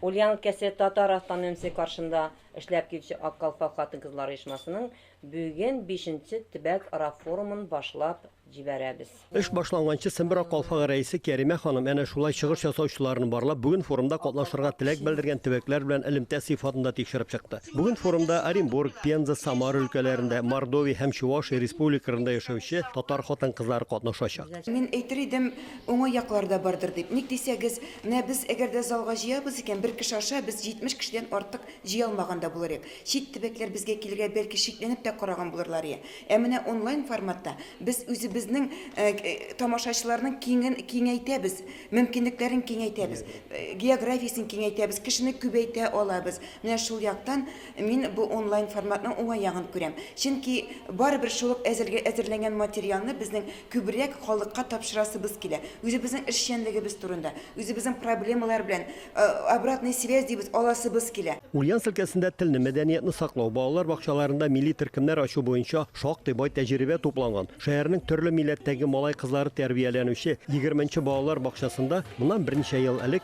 Ульян өлкәсе татар автономиясе каршында эшләп килүче Ак калфак хатын-кызлар оешмасының бүген бишенче төбәк-ара форумын башлап җибәрәбез. Эш башланганчы Сембер Ак калфагы рәисе Кәримә ханым әнә шулай чыгыш ясаучыларны барлап, бүген форумда катнашырга теләк белдергән төбәкләр белән элемтә сыйфатында тикшереп чыкты. Бүген форумда Оренбург, Пенза, Самара өлкәләрендә, Мордовия һәм Чувашия республикарында яшәүче татар хатын-кызлары катнашачак. Мин әйтер идем, уңай яклары да бардыр дип. Ник дисәгез, Менә без әгәр дә залга җыябыз икән, бер кеше аша без 70 кешедән артык җыя алмаган да булыр идек. Чит төбәкләр безгә килергә бәлки шикләнеп тә караган булырлар иде. Ә менә онлайн форматта без үзебезнең тамашачыларның киңен киңәйтәбез, мөмкинлекләрен киңәйтәбез, географиясен киңәйтәбез, кешене күбәйтә алабыз. Менә шул яктан Мин бу онлайн форматның уңай ягын күрәм. Чөнки барыбер шул ук әзергә әзерләнгән материалны безнең күбрәк халыкка тапшырасыбыз килә. Үзебезнең эшчәнлегебез турында, үзебезнең проблемалар белән обратная связь дибез, аласыбыз килә. Ульяновск өлкәсендә телне, мәдәниятны саклау, балалар бакчаларында милли төркемнәр ачу буенча шактый бай тәҗрибә тупланган. Шәһәрнең төрле милләттәге малай-кызлары тәрбияләнүче егерменче балалар бакчасында моннан берничә ел элек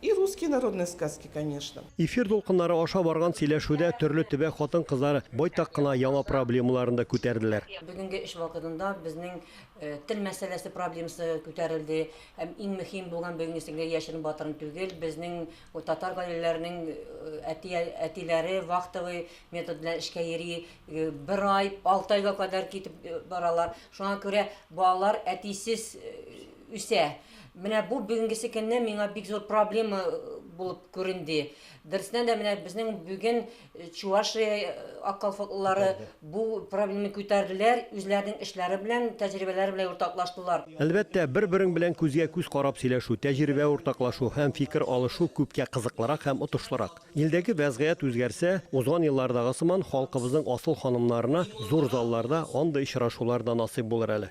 И русские народные сказки конечно. Эфир дулкыннары аша барган сөйләшүдә төрле төбәк хатын-кызлар байтак кына яңа проблемаларын да күтәрделәр. Бүгенге эш вакытында безнең тел мәсьәләсе проблемасы күтәрелде һәм иң мөһим булган бүгенге сеңле яшерен батырын түгел, безнең татар гаиләләренең әти әтиләре вахтовый метод белән эшкә йөри, бер ай, алты айга кадәр китеп баралар. Шуңа күрә балалар әтисез үсә. Менә бу бүгенгесе көнне миңа бик зур проблема булып күренде. Дөрестән дә менә безнең бүген Чувашия аккалфатлылары бу проблеманы күтәрделәр, үзләренең эшләре белән, тәҗрибәләре белән уртаклаштылар. Әлбәттә, бер-берең белән күзгә-күз карап сөйләшү, тәҗрибә уртаклашу һәм фикер алышу күпкә кызыклырак һәм отышлырак. Илдәге вәзгыять үзгәрсә, узган еллардагы сыман халкыбызның асыл ханымнарына зур залларда андый очрашулар да насыйп булыр әле.